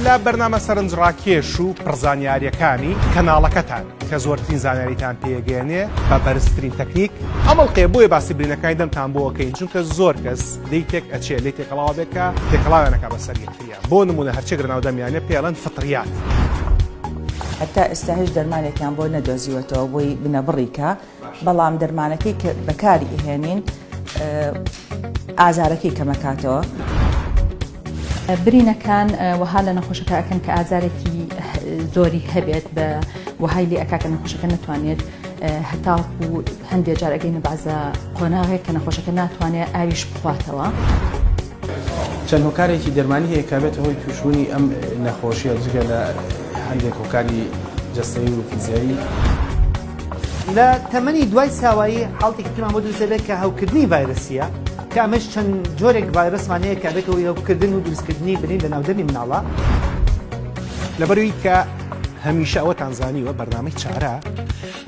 لە بەرنامە سەرنجڕاکێش و پڕزانیاریەکانی کەناڵەکەتان کە زۆرترین زانیاریتان پێگەێنێ بە بەرزترین تەکنیک ئەمەڵقێ بۆیە باسی برینەکانی دەمتان بۆکەین چونکە زۆر کەس لی تێک ئەچێ لی تێکەڵاوە بێکە تێکەڵاوێنەکە بە سەرگەتریا بۆ نمونە هەرچێک لەناو دەمیانە پێڵەن فطریات. هەتا ئێستا هیچ دەرمانێکیان بۆ نەدۆزیوەتەوە بۆی بنەبڕیکە بەڵام دەرمانەکەی کە بەکاری ئەهێنین ئازارەکەی کەمەکاتەوە. برینەکان وەها لە نەخۆشەکە ئەکەن کە ئازارێکی زۆری هەبێت بە وەهای لێ ئەکاکە نەخۆشەکە نتوانێت هەتاڵکو و هەندێک جارەکەی نەبازە قۆناغێک کە نەخۆشەکە ناتوانێت ئاویش بخواتەوە. چەند هۆکارێکی دەرمانی هەیە کە بێتە هۆی تووشبوونی ئەم نەخۆشیە جگە لە هەندێک هۆکاری جستەی و فیزیایی. لە تەمەنی دوای ساوایی حاڵتێکی ترمان بۆ دروست دەبێت کە هەوکردنی ڤایرسیە کە ئەمەش چەند جۆرێک ڤایرسمان هەیە کە بێتەوەی هەوکردن و دروستکردنی برین لە ناودەمی مناڵە لەبەروی کە هەمیشە ئەوەتان زانیوە بەرنامەی چارە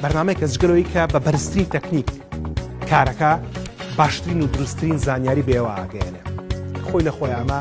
بەرنمەی کە جگەرەوەی کە بە بەرزترین تەکنیک کارەکە باشترین و دروستترین زانیاری بێواگەێنێ خۆی لە خۆی ئەمە